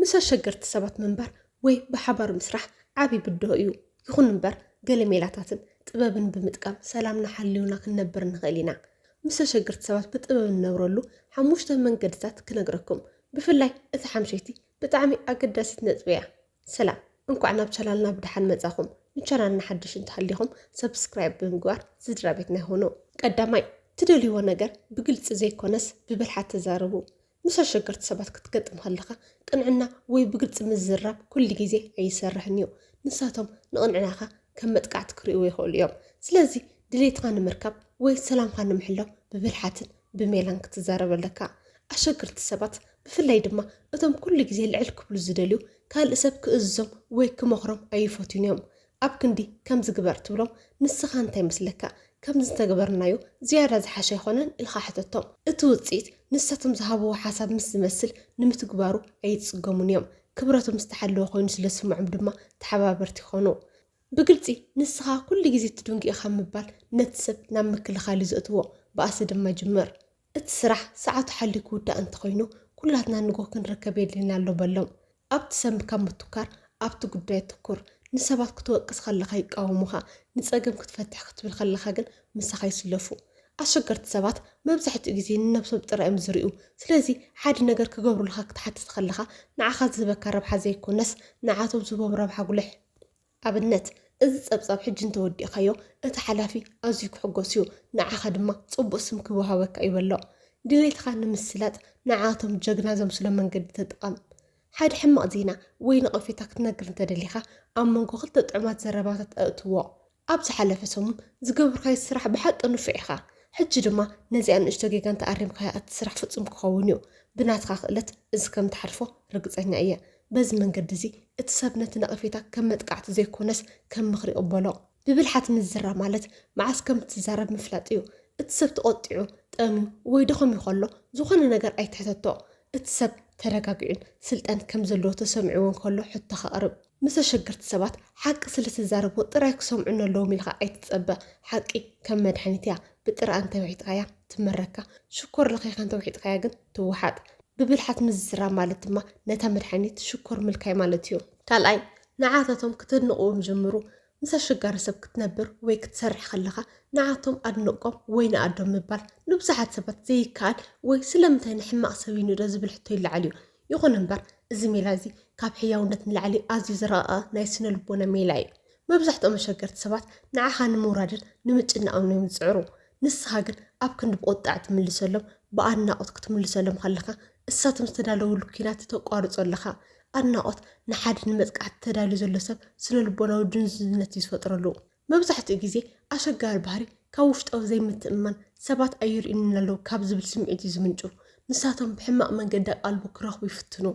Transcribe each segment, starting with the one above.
ምስ ኣሸገርቲ ሰባት ምንባር ወይ ብሓባር ምስራሕ ዓቢ ብድሆ እዩ። ይኹን እምበር ገለ ሜላታትን ጥበብን ብምጥቃም ሰላምና ሓሊውና ክንነብር ንኽእል ኢና። ምስ ኣሸገርቲ ሰባት ብጥበብ እንነብረሉ ሓሙሽተ መንገድታት ክነግረኩም። ብፍላይ እታ ሓምሸይቲ ብጣዕሚ ኣገዳሲት ነጥቢ እያ። ሰላም እንኳዕ ናብ ቻናልና ብደሓን መጻኹም። ንቻናልና ሓድሽ እንተሃሊኹም ሰብስክራይብ ብምግባር ስድራቤትና ይኹኑ። ቀዳማይ፣ ትደልይዎ ነገር ብግልጺ ዘይኮነስ ብብልሓት ተዛረቡ። ምስ ኣሸገርቲ ሰባት ክትገጥም ከለኻ ቅንዕና ወይ ብግልጺ ምዝራብ ኩሉ ግዜ ኣይሰርሕን እዩ። ንሳቶም ንቕንዕናኻ ከም መጥቃዕቲ ክርእይዎ ይኽእሉ እዮም። ስለዚ ድሌትካ ንምርካብ ወይ ሰላምካ ንምሕላው ብብልሓትን ብሜላን ክትዛረብ ኣለካ። ኣሸገርቲ ሰባት ብፍላይ ድማ እቶም ኩሉ ግዜ ልዕል ክብሉ ዝደልዩ ካልእ ሰብ ክእዝዞም ወይ ክመኽሮም ኣይፈትዩን እዮም። ኣብ ክንዲ ከምዚ ግበር ትብሎም ንስኻ እንታይ ይመስለካ ከምዚ እንተገበርናዮ ዝያዳ ዝሓሸ ኣይኾነን ኢልኻ ሕተቶም። እቲ ውጽኢት ንሳቶም ዝሃብዎ ሓሳብ ምስ ዝመስል ንምትግባሩ ኣይጽገሙን እዮም። ክብረቶም ዝተሓለወ ኮይኑ ስለ ዝስምዖም ድማ ተሓባበርቲ ይኾኑ። ብግልጺ ንስኻ ኩሉ ግዜ ትድንጉ ኢኻ ምባል ነቲ ሰብ ናብ ምክልኻል እዩ ዘእትዎ። ባእሲ ድማ ይጅምር። እቲ ስራሕ ሰዓቱ ሓልዩ ክውዳእ እንተኾይኑ ኩላትና ንግሆ ክንርከብ የድልየና ኣሎ በሎም። ኣብ ትሰምዕ ካብ ምትኳር ኣብቲ ጉዳይ ኣተኩር። ንሰባት ክትወቅስ ከለኻ ይቃወሙኻ፣ ንጸገም ክትፈትሕ ክትብል ከለኻ ግን ምሳኻ ይስለፉ። ኣሸገርቲ ሰባት መብዛሕትኡ ግዜ ንነብሶም ጥራይ'ዮም ዝሪኡ። ስለዚ ሓደ ነገር ክገብሩልኻ ክትሓትት ከለኻ ንዓኻ ዝህበካ ረብሓ ዘይኮነስ ንዓቶም ዝህቦም ረብሓ ኣጉልሕ። ኣብነት፣ እዚ ጸብጻብ ሕጂ እንተ ወዲእካዮ፣ እቲ ሓላፊ ኣዝዩ ክሕጐስ እዩ፣ ንዓኻ ድማ ጽቡቕ ስም ክወሃበካ እዩ በሎ። ድሌትኻ ንምስላጥ ንዓኣቶም ጀግና ዘምስሎም መንገዲ ተጠቐም። ሓደ ሕማቕ ዜና ወይ ነቐፌታ ክትነግር እንተ ደሊኻ፣ ኣብ መንጎ ክልተ ጥዑማት ዘረባታት ኣእትዎ። ኣብ ዝሓለፈ ሰሙን ዝገበርካዮ ስራሕ ብሓቂ ንፉዕ ኢኻ፣ ሕጂ ድማ ነዚኣ ንእሽቶ ጌጋ እንተ ኣሪምካያ እቲ ስራሕ ፍጹም ክኸውን እዩ። ብናትካ ክእለት እዚ ከም እትሓልፎ ርግጸኛ እየ። በዚ መንገዲ እዚ እቲ ሰብ ነቲ ነቐፌታ ከም መጥቃዕቲ ዘይኮነስ ከም ምኽሪ ይቕበሎ። ብብልሓት ምዝራብ ማለት መዓስ ከም እትዛረብ ምፍላጥ እዩ። እቲ ሰብ ተቖጢዑ፣ ጠምዩ፣ ወይ ደኸምዩ ከሎ ዝኾነ ነገር ኣይትሕተቶ። እቲ ሰብ ተረጋጊዑን ስልጣን ከም ዘለዎ ተሰሚዕዎን ከሎ ሕቶኻ ኣቕርብ። ምስ ኣሸገርቲ ሰባት ሓቂ ስለ እትዛረቦ ጥራይ ክሰምዑኒ ኣለዎም ኢልካ ኣይትጸበ። ሓቂ ከም መድሓኒት እያ፣ ብጥረኣ እንተ ውሒጥካያ ትመረካ፣ ሽኮር ለኺኻ እንተ ውሒጥካያ ግን ትወሓጥ። ብብልሓት ምዝራብ ማለት ድማ ነታ መድሓኒት ሽኮር ምልካይ ማለት እዩ። ካልኣይ፣ ንዓታቶም ክተድንቕዎም ጀምሩ። ምስ ኣሸጋሪ ሰብ ክትነብር ወይ ክትሰርሕ ከለኻ ንዓቶም ኣድንቆም ወይ ንኣዶም ምባል ንብዙሓት ሰባት ዘይከኣል ወይ ስለምንታይ ንሕማቕ ሰብ ይንእዶ ዝብል ሕቶ ይለዓል እዩ። ይኹን እምበር እዚ ሜላ እዚ ካብ ሕያውነት ንላዕሊ ኣዝዩ ዝረቐቐ ናይ ስነ ልቦና ሜላ እዩ። መብዛሕትኦም ኣሸገርቲ ሰባት ንዓኻ ንምውራድን ንምጭናቕን እዮም ዝጽዕሩ። ንስኻ ግን ኣብ ክንዲ ብቑጥዓ ትምልሰሎም ብኣድናቖት ክትምልሰሎም ከለኻ እሳቶም ዝተዳለውሉ ኲናት ተቋርጾ ኣለኻ። ኣድናቖት ንሓደ ንመጥቃዕቲ ተዳልዩ ዘሎ ሰብ ስነልቦናዊ ድንዙዝነት እዩ ዝፈጥረሉ። መብዛሕትኡ ግዜ ኣሸጋሪ ባህሪ ካብ ውሽጣዊ ዘይምትእምማን ሰባት ኣይርእዩንን ኣለው ካብ ዝብል ስምዒት እዩ ዝምንጩ። ንሳቶም ብሕማቕ መንገዲ ኣቓልቦ ክረኽቡ ይፍትኑ።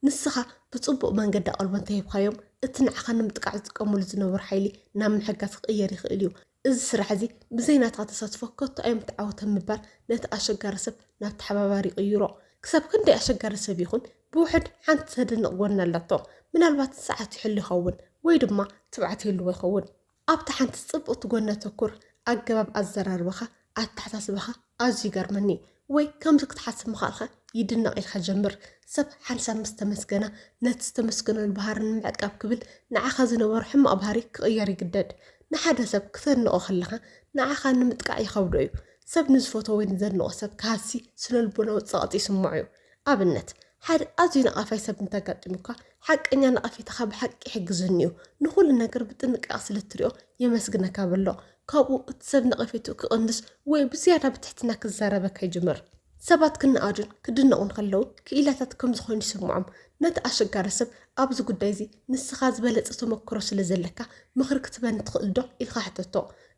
ንስኻ ብጽቡቕ መንገዲ ኣቓልቦ እንተሂብካዮም እቲ ንዓኻ ንምጥቃዕ ዝጥቀሙሉ ዝነበሩ ሓይሊ ናብ ምሕጋዝ ክቕየር ይኽእል እዩ። እዚ ስራሕ እዚ ብዘይ ናትካ ተሳትፎ ከቶ ኣይምተዓወተን ምባል ነቲ ኣሸጋሪ ሰብ ናብ ተሓባባሪ ይቕይሮ። ክሳብ ክንደይ ኣሸጋሪ ሰብ ይኹን ብውሕድ ሓንቲ ተደንቕ ጎኒ ኣላቶ። ምናልባት ንሰዓት ይሕሉ ይኸውን ወይ ድማ ትብዓት ይህልዎ ይኸውን። ኣብታ ሓንቲ ጽብቕቲ ጎኒ ኣተኩር፣ ኣገባብ ኣዘራርባኻ ኣተሓሳስባኻ ኣዝዩ ይገርመኒ ወይ ከምዚ ክትሓስብ ምኽኣልካ ይድነቕ ኢልካ ጀምር። ሰብ ሓንሳብ ምስ ተመስገና ነቲ ዝተመስገነሉ ባህሪ ንምዕቃብ ክብል ንዓኻ ዝነበሮ ሕማቕ ባህሪ ክቕየር ይግደድ። ንሓደ ሰብ ክተድንቖ ከለኻ ንዓኻ ንምጥቃዕ ይኸብዶ እዩ። ሰብ ንዝፈትዎ ወይ ንዘድንቖ ሰብ ክሃሲ ስነልቦናዊ ጸቕጢ ይስምዖ እዩ። ኣብነት፣ ሓደ ኣዝዩ ነቓፋይ ሰብ እንተ ኣጋጢሙካ፣ ሓቀኛ ነቐፌታኻ ብሓቂ ይሕግዘኒ እዩ፣ ንዅሉ ነገር ብጥንቃቐ ስለ እትሪኦ የመስግነካ በሎ። ካብኡ እቲ ሰብ ነቐፌትኡ ክቕንስ ወይ ብዝያዳ ብትሕትና ክዛረበካ ይጅምር። ሰባት ክነኣዱን ክድነቑን ከለዉ ክኢላታት ከም ዝዀኑ ይስምዖም። ነቲ ኣሸጋሪ ሰብ፣ ኣብዚ ጕዳይ እዚ ንስኻ ዝበለጸ ተመክሮ ስለ ዘለካ ምኽሪ ክትህበኒ ትኽእልዶ? ኢልካ ሕተቶ።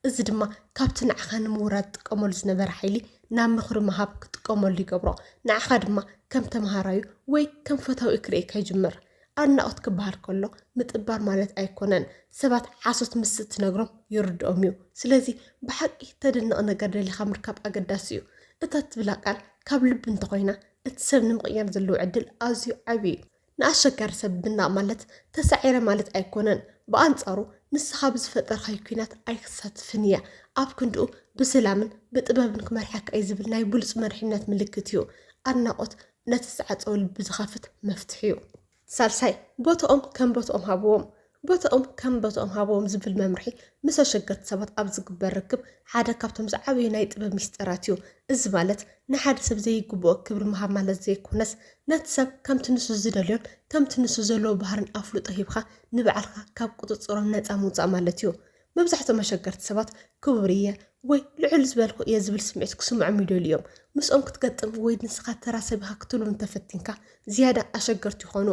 እዚ ድማ ካብቲ ንዓኻ ንምውራድ ዝጥቀመሉ ዝነበረ ሓይሊ ናብ ምኽሪ ምሃብ ክጥቀመሉ ይገብሮ። ንዓኻ ድማ ከም ተመሃራዩ ወይ ከም ፈታዊኡ ክርእየካ ይጅምር። ኣድናቖት ክበሃል ከሎ ምጥባር ማለት ኣይኮነን። ሰባት ሓሶት ምስ እትነግሮም ይርድኦም እዩ። ስለዚ ብሓቂ ተደንቕ ነገር ደሊኻ ምርካብ ኣገዳሲ እዩ። እታ እትብላ ቃል ካብ ልቢ እንተኾይና እቲ ሰብ ንምቕያር ዘለዎ ዕድል ኣዝዩ ዓቢ እዩ። ንኣሸጋሪ ሰብ ምናቕ ማለት ተሳዒረ ማለት ኣይኮነን። ብኣንጻሩ ንስኻ ብዝፈጠርካዮ ኲናት ኣይክሳትፍን እየ፣ ኣብ ክንድኡ ብስላምን ብጥበብን ክመርሓካ እየ ዝብል ናይ ብሉጽ መሪሕነት ምልክት እዩ። ኣድናቖት ነቲ ዝተዓጸወ ልቢ ዝኸፍት መፍትሕ'ዩ። ሳልሳይ፣ ቦትኦም ከም ቦትኦም ሃብዎም። ቦታኦም ከም ቦታኦም ሃብዎም ዝብል መምርሒ ምስ ኣሸገርቲ ሰባት ኣብ ዝግበር ርክብ ሓደ ካብቶም ዝዓበዩ ናይ ጥበብ ሚስጥራት እዩ። እዚ ማለት ንሓደ ሰብ ዘይግብኦ ክብሪ ምሃብ ማለት ዘይኮነስ ነቲ ሰብ ከምቲ ንሱ ዝደልዮን ከምቲ ንሱ ዘለዎ ባህርን ኣፍልጦ ሂብካ ንባዕልካ ካብ ቁጽጽሮም ነጻ ምውጻእ ማለት እዩ። መብዛሕትኦም ኣሸገርቲ ሰባት ክቡር እየ ወይ ልዑል ዝበልኩ እየ ዝብል ስምዒት ክስምዖም ይደልዩ እዮም። ምስኦም ክትገጥም ወይ ንስኻ ተራ ሰብ ኢኻ ክትብሎም እንተፈቲንካ ዝያዳ ኣሸገርቲ ይኾኑ።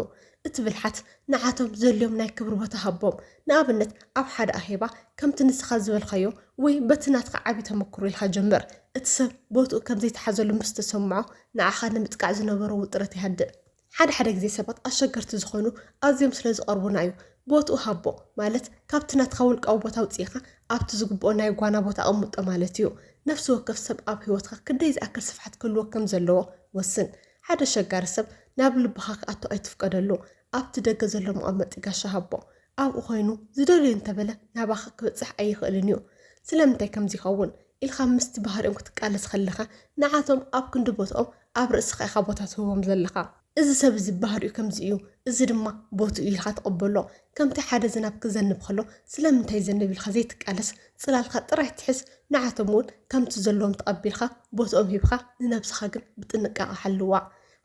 እቲ ብልሓት፣ ንዓቶም ዘድልዮም ናይ ክብሪ ቦታ ሃቦም። ንኣብነት፣ ኣብ ሓደ ኣኼባ ከምቲ ንስኻ ዝበልካዮ ወይ በቲ ናትካ ዓቢ ተመክሮ ኢልካ ጀምር። እቲ ሰብ ቦትኡ ከም ዘይተሓዘሉ ምስ ተሰምዖ ንዓኻ ንምጥቃዕ ዝነበሮ ውጥረት ይሃድእ። ሓደ ሓደ ግዜ ሰባት ኣሸገርቲ ዝኾኑ ኣዝዮም ስለ ዝቐርቡና እዩ። ቦትኡ ሃቦ ማለት ካብቲ ናትካ ውልቃዊ ቦታ ኣውጺእኻ ኣብቲ ዝግብኦ ናይ ጓና ቦታ ኣቐምጦ ማለት እዩ። ነፍሲ ወከፍ ሰብ ኣብ ህይወትካ ክንደይ ዝኣክል ስፍሓት ክህልዎ ከም ዘለዎ ወስን። ሓደ ኣሸጋሪ ሰብ ናብ ልብኻ ክኣቱ ኣይትፍቀደሉ። ኣብቲ ደገ ዘሎ መቐመጢ ጋሻ ሃቦ። ኣብኡ ኮይኑ ዝደልዮ እንተበለ ናባኻ ክበጽሕ ኣይኽእልን እዩ። ስለምንታይ ከምዚ ይኸውን ኢልካ ምስቲ ባህሪኦም ክትቃለስ ከለኻ ንዓቶም ኣብ ክንዲ ቦትኦም ኣብ ርእስኻ ኢኻ ቦታ ትህቦም ዘለኻ። እዚ ሰብ እዚ ባህሪኡ ከምዚ እዩ፣ እዚ ድማ ቦትኡ ኢልካ ተቐበሎ። ከምቲ ሓደ ዝናብ ክዘንብ ከሎ ስለምንታይ ይዘንብ ኢልካ ዘይትቃለስ፣ ጽላልካ ጥራይ ትሕዝ፣ ንዓቶም እውን ከምቲ ዘለዎም ተቐቢልካ ቦትኦም ሂብካ ንነብስኻ ግን ብጥንቃቐ ሓልዋ።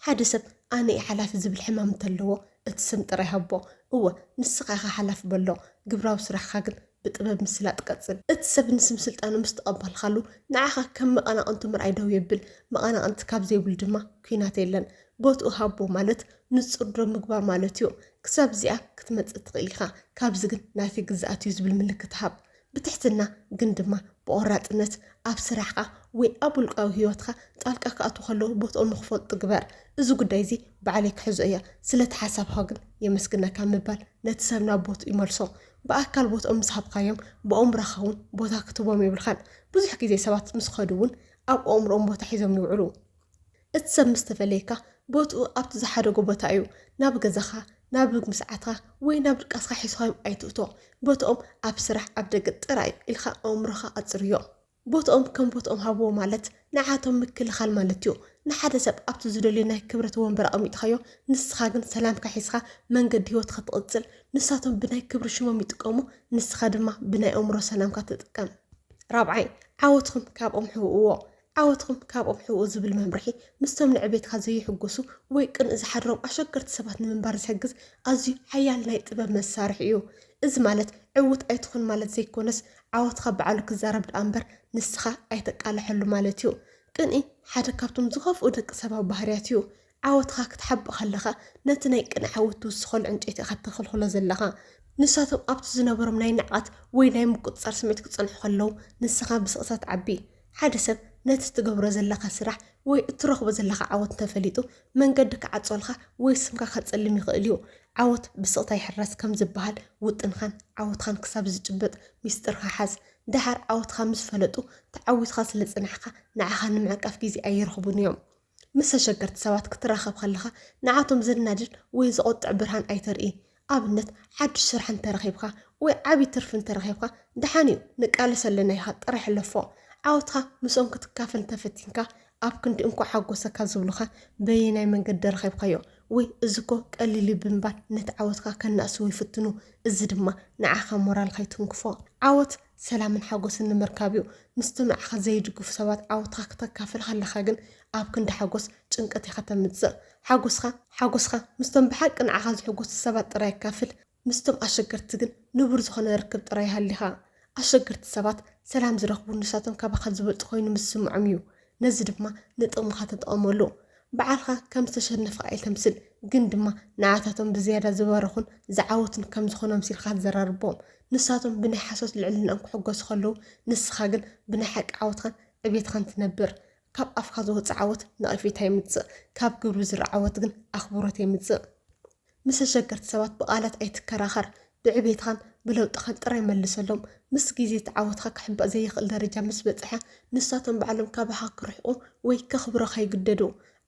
ሓደ ሰብ ኣነ እየ ሓላፊ ዝብል ሕማም እንተለዎ እቲ ስም ጥራይ ሃቦ፣ እወ ንስኻ ኢኻ ሓላፊ በሎ፣ ግብራዊ ስራሕካ ግን ብጥበብ ምስላጥ ቀጽል። እቲ ሰብ ንስም ስልጣኑ ምስ ተቐባልካሉ ንዓኻ ከም መቐናቕንቱ ምርኣይ ደው የብል። መቐናቕንቲ ካብ ዘይብሉ ድማ ኲናት የለን። ቦትኡ ሃቦ ማለት ንጹር ደው ምግባር ማለት'ዩ። ክሳብ እዚኣ ክትመጽእ ትኽእል ኢኻ፣ ካብዚ ግን ናተይ ግዝኣት'ዩ ዝብል ምልክት ሃብ። ብትሕትና ግን ድማ ብቖራጽነት ኣብ ስራሕካ ወይ ኣብ ውልቃዊ ህይወትካ ጣልቃ ክኣትዉ ከለዉ ቦትኦም ንኽፈልጡ ግበር። እዚ ጉዳይ'ዚ ባዕለይ ክሕዞ እየ፣ ስለ'ቲ ሓሳብኻ ግን የመስግነካ ምባል ነቲ ሰብ ናብ ቦትኡ መልሶ። ብኣካል ቦትኦም ምስ ሃብካዮም ብኣእምሮኻ እውን ቦታ ክትህቦም የብልካን። ብዙሕ ግዜ ሰባት ምስ ከዱ እውን ኣብ ኣእምሮኦም ቦታ ሒዞም ይውዕሉ። እቲ ሰብ ምስ ተፈለየካ ቦትኡ ኣብቲ ዝሓደጎ ቦታ እዩ። ናብ ገዛኻ፣ ናብ ምግምስዓትካ ወይ ናብ ድቃስካ ሒዝካዮም ኣይትእቶ። ቦትኦም ኣብ ስራሕ፣ ኣብ ደገ ጥራይ እዩ ኢልካ ኣእምሮኻ ኣጽርዮ። ቦትኦም ከም ቦትኦም ሃብዎ ማለት ንዓቶም ምክልኻል ማለት እዩ። ንሓደ ሰብ ኣብቲ ዝደልዮ ናይ ክብረት ወንበር ኣቐሚጥኻዮ ንስኻ ግን ሰላምካ ሒዝኻ መንገዲ ህይወትካ ትቕጽል። ንሳቶም ብናይ ክብሪ ሽሞም ይጥቀሙ ንስኻ ድማ ብናይ ኣእምሮ ሰላምካ ተጠቀም። ራብዓይ፣ ዓወትኹም ካብኦም ሕብእዎ። ዓወትኹም ካብኦም ሕብኡ ዝብል መምርሒ ምስቶም ንዕቤትካ ዘይሕጎሱ ወይ ቅንኢ ዝሓድሮም ኣሸገርቲ ሰባት ንምንባር ዝሕግዝ ኣዝዩ ሓያል ናይ ጥበብ መሳርሒ እዩ። እዚ ማለት ዕዉት ኣይትኹን ማለት ዘይኮነስ ዓወትካ ባዕሉ ክዛረብ ድኣ እምበር ንስካ ኣይተቃለሐሉ ማለት እዩ። ቅንኢ ሓደ ካብቶም ዝከፍኡ ደቂ ሰባዊ ባህርያት እዩ። ዓወትካ ክትሓብእ ከለካ ነቲ ናይ ቅንኢ ዓወት ትውስከሉ ዕንጨይቲ ኢካ ተክልክሎ ዘለካ። ንሳቶም ኣብቲ ዝነበሮም ናይ ንዕቀት ወይ ናይ ምቁጽጻር ስምዒት ክጸንሑ ከለው ንስካ ብስቅታ ትዓቢ። ሓደ ሰብ ነቲ እትገብሮ ዘለኻ ስራሕ ወይ እትረኽቦ ዘለኻ ዓወት እንተ ፈሊጡ፣ መንገዲ ክዓጽወልካ ወይ ስምካ ከጸልም ይኽእል እዩ። ዓወት ብስቕታ ይሕረስ ከም ዝበሃል፣ ውጥንካን ዓወትካን ክሳብ ዝጭበጥ ሚስጢርካ ሓዝ። ደሓር ዓወትካ ምስ ፈለጡ፣ ተዓዊትካ ስለ ዝጸናሕካ ንዓኻ ንምዕቃፍ ግዜ ኣይረኽቡን እዮም። ምስ ተሸገርቲ ሰባት ክትራኸብ ከለኻ ንዓቶም ዘናድድ ወይ ዘቖጥዕ ብርሃን ኣይተርኢ። ኣብነት፣ ሓድሽ ስራሕ እንተ ረኺብካ ወይ ዓቢ ትርፊ እንተ ረኺብካ፣ ደሓን እዩ ንቃለስ ኣለና ኢልካ ጥራይ ሕለፎ። ዓወትካ ምስኦም ክትካፈል እንተ ፈቲንካ፣ ኣብ ክንዲ እንኳዕ ሓጎሰካ ዝብሉኻ፣ በየናይ መንገዲ ረኺብካዮ? ወይ እዚ እኮ ቀሊል እዩ ብምባል ነቲ ዓወትካ ከናእስዎ ይፍትኑ፣ እዚ ድማ ንዓኻ ሞራልካ ይትንክፎ። ዓወት ሰላምን ሓጎስን ንምርካብ እዩ። ምስቶም ንዓኻ ዘይድግፉ ሰባት ዓወትኻ ክተካፍል ከለኻ ግን ኣብ ክንዲ ሓጎስ ጭንቀት ኢኻ ተምጽእ። ሓጎስካ ሓጎስካ ምስቶም ብሓቂ ንዓኻ ዝሕጎሱ ሰባት ጥራይ ኣካፍል። ምስቶም ኣሸገርቲ ግን ንቡር ዝኾነ ርክብ ጥራይ ሃሊኻ። ኣሸገርቲ ሰባት ሰላም ዝረኽቡ ንሳቶም ካባኻ ዝበልጹ ኮይኑ ምስ ዝስምዖም እዩ። ነዚ ድማ ንጥቕምኻ ተጠቐመሉ። ባዕልኻ ከም ዝተሸነፍካ ኣይተምስል፣ ግን ድማ ንዓታቶም ብዝያዳ ዝበረኹን ዝዓወቱን ከም ዝኾኑ ኣምሲልካ ኣዘራርቦም። ንሳቶም ብናይ ሓሶት ልዕልናኦም ክሕጎሱ ከለዉ፣ ንስኻ ግን ብናይ ሓቂ ዓወትካን ዕቤትካን ትነብር። ካብ ኣፍካ ዝወጽእ ዓወት ነቐፌታ የምጽእ፣ ካብ ግብሪ ዝርእ ዓወት ግን ኣኽብሮት የምጽእ። ምስ ኣሸገርቲ ሰባት ብቓላት ኣይትከራኸር፣ ብዕቤትኻን ብለውጥኻን ጥራይ መልሰሎም። ምስ ግዜ እቲ ዓወትካ ክሕበእ ዘይኽእል ደረጃ ምስ በጽሐ፣ ንሳቶም ባዕሎም ካባኻ ክርሕቁ ወይ ከኽብሩኻ ይግደዱ።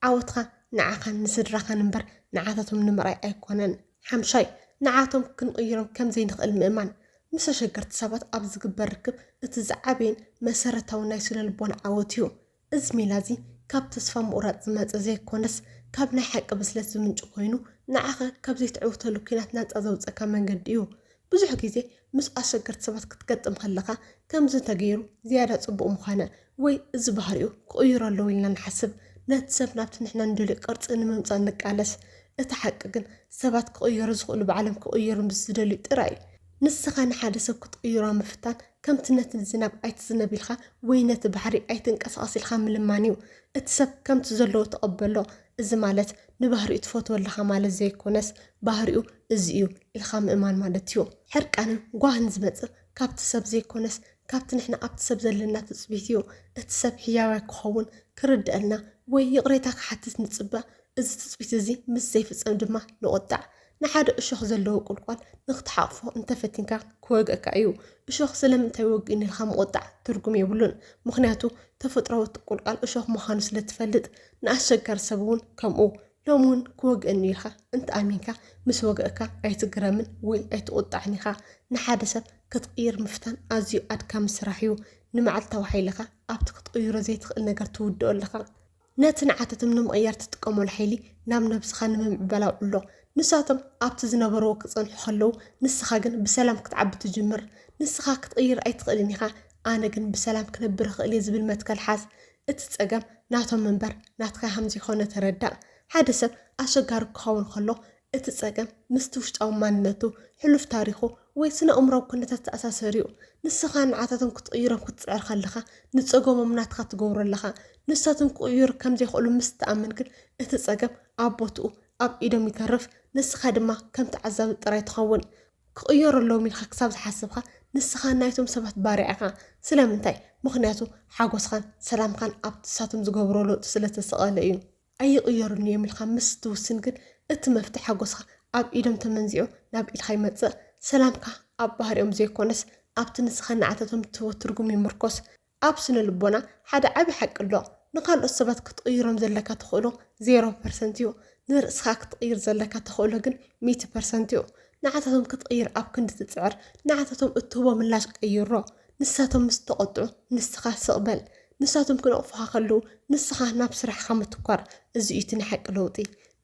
ዓወትካ ንዓኻን ንስድራኻን እምበር ንዓታቶም ንምርኣይ ኣይኮነን። ሓምሻይ፣ ንዓቶም ክንቕይሮም ከም ዘይንኽእል ምእማን። ምስ ኣሸገርቲ ሰባት ኣብ ዝግበር ርክብ እቲ ዝዓበየን መሰረታውን ናይ ስነ-ልቦና ዓወት እዩ። እዚ ሜላ'ዚ ካብ ተስፋ ምቑራጽ ዝመጸ ዘይኮነስ፣ ካብ ናይ ሓቂ ብስለት ዝምንጩ ኮይኑ፣ ንዓኸ ካብ ዘይትዕውተሉ ኲናት ናጻ ዘውጽእካ መንገዲ እዩ። ብዙሕ ግዜ ምስ ኣሸገርቲ ሰባት ክትገጥም ከለኻ፣ ከምዚ እንተገይሩ ዝያዳ ጽቡቕ ምኾነ ወይ እዚ ባህሪኡ ክቕይሮ ኣለዎ ኢልና ንሓስብ። ነቲ ሰብ ናብቲ ንሕና ንደልዮ ቅርጺ ንምምጻእ ንቃለስ። እቲ ሓቂ ግን ሰባት ክቕየሩ ዝኽእሉ ባዕሎም ክቕየሩ ምስ ዝደልዩ ጥራይ እዩ። ንስኻ ንሓደ ሰብ ክትቕይሮ ኣብ ምፍታን ከምቲ ነቲ ዝናብ ኣይትዝነብ ኢልካ ወይ ነቲ ባሕሪ ኣይትንቀሳቐስ ኢልካ ምልማን እዩ። እቲ ሰብ ከምቲ ዘለዎ ተቐበሎ፣ እዚ ማለት ንባህሪኡ ትፈትዎ ኣለኻ ማለት ዘይኮነስ ባህሪኡ እዚ እዩ ኢልካ ምእማን ማለት እዩ። ሕርቃንን ጓህን ዝመጽእ ካብቲ ሰብ ዘይኮነስ ካብቲ ንሕና ኣብቲ ሰብ ዘለና ትጽቢት እዩ። እቲ ሰብ ሕያዋይ ክኸውን፣ ክርደኣልና ወይ ይቕሬታ ክሓትት ንጽበ፣ እዚ ትጽቢት እዚ ምስ ዘይፍጸም ድማ ንቑጣዕ። ንሓደ እሾኽ ዘለዎ ቁልቋል ንኽትሓቑፎ እንተ ፈቲንካ ክወግኣካ እዩ። እሾኽ ስለምንታይ ወግእኒ ኢልካ ምቑጣዕ ትርጉም የብሉን። ምኽንያቱ ተፈጥሮኣዊ ቁልቋል እሾኽ ምዃኑ ስለ እትፈልጥ። ንኣሸጋሪ ሰብ እውን ከምኡ። ሎሚ እውን ክወግእኒ እዩ ኢልካ እንተ ኣሚንካ ምስ ወግኣካ ኣይትግረምን ወይ ኣይትቑጣዕን ኢኻ። ንሓደ ሰብ ክትቕይር ምፍታን ኣዝዩ ኣድካሚ ስራሕ እዩ። ንመዓልታዊ ሓይልኻ ኣብቲ ክትቕይሮ ዘይትኽእል ነገር ትውድኦ ኣለኻ። ነቲ ንዓታቶም ንምቕያር ትጥቀመሉ ሓይሊ ናብ ነብስኻ ንምምዕባል ኣውዕሎ። ንሳቶም ኣብቲ ዝነበርዎ ክጸንሑ ከለዉ፣ ንስኻ ግን ብሰላም ክትዓቢ ትጅምር። ንስኻ ክትቕይር ኣይትኽእልን ኢኻ፣ ኣነ ግን ብሰላም ክነብር እኽእል እየ ዝብል መትከል ሓዝ። እቲ ጸገም ናቶም እምበር ናትካ ከም ዘይኮነ ተረዳእ። ሓደ ሰብ ኣሸጋሪ ክኸውን ከሎ እቲ ጸገም ምስቲ ውሽጣዊ ማንነቱ፣ ሕሉፍ ታሪኹ፣ ወይ ስነ-ኣእምሮኣዊ ኩነታት ዝተኣሳሰር'ዩ። ንስኻ ንዓታቶም ክትቕይሮም ክትጽዕር ከለኻ፣ ንጸገሞም ናትካ ትገብሮ ኣለኻ። ንሳቶም ክቕይሩ ከም ዘይክእሉ ምስ እትኣምን ግን፣ እቲ ጸገም ኣብ ቦትኡ፣ ኣብ ኢዶም ይተርፍ፣ ንስኻ ድማ ከም ተዓዛቢ ጥራይ ትኸውን። ክቕየሩ ኣለዎም ኢልካ ክሳብ ዝሓሰብካ፣ ንስኻ ናይቶም ሰባት ባርያ ኢኻ። ስለምንታይ? ምኽንያቱ ሓጎስኻን ሰላምካን ኣብቲ ንሳቶም ዝገብርዎ ለውጢ ስለ እተሰቐለ እዩ። ኣይቕየሩኒ እዮም ኢልካ ምስ ትውስን ግን እቲ መፍትሕ ሓጎስካ ኣብ ኢዶም ተመንዚዑ ናብ ኢድካ ይመጽእ። ሰላምካ ኣብ ባህሪኦም ዘይኮነስ ኣብቲ ንስኻ ንዓታቶም ትህቦ ትርጉም ይምርኮስ። ኣብ ስነ-ልቦና ሓደ ዓቢ ሓቂ ኣሎ፣ ንካልኦት ሰባት ክትቕይሮም ዘለካ ተኽእሎ ዜሮ ፐርሰንት እዩ፣ ንርእስኻ ክትቕይር ዘለካ ተኽእሎ ግን ሚእቲ ፐርሰንት እዩ። ንዓታቶም ክትቕይር ኣብ ክንዲ ትጽዕር ንዓታቶም እትህቦ ምላሽ ቀይሮ። ንሳቶም ምስ ተቖጥዑ ንስኻ ስቕ በል። ንሳቶም ክነቕፉኻ ከለዉ ንስኻ ናብ ስራሕኻ ምትኳር። እዚ እዩ እቲ ናይ ሓቂ ለውጢ።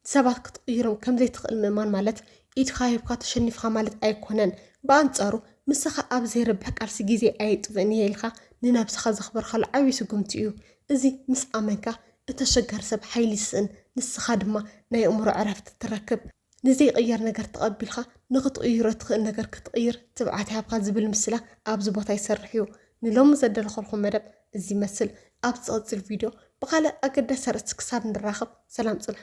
ንሰባት ክትቕይሮም ከም ዘይትኽእል ምእማን ማለት ኢድካ ሂብካ ተሸኒፍካ ማለት ኣይኰነን። ብኣንጻሩ ምሳኻ ኣብ ዜርብሕ ቃልሲ ግዜይ ኣየጥፍእን እየ ኢልካ ንነብስኻ ዘኽበርካሉ ዓብዪ ስጕምቲ እዩ። እዚ ምስ ኣመንካ እቲ ኣሸጋሪ ሰብ ሓይሊ ይስእን ንስኻ ድማ ናይ ኣእምሮ ዕረፍቲ ትረክብ። ንዘይቕየር ነገር ተቐቢልካ ንኽትቕይሮ ትኽእል ነገር ክትቕይር ትብዓት ይሃብካ ዝብል ምስላ ኣብዚ ቦታ ይሰርሕ እዩ። ንሎሚ ዘደለኸልኩም መደብ እዚ ይመስል። ኣብ ዝቕጽል ቪድዮ ብኻልእ ኣገዳሲ ኣርእስቲ ክሳብ ንራኸብ ሰላም ጽንሑ።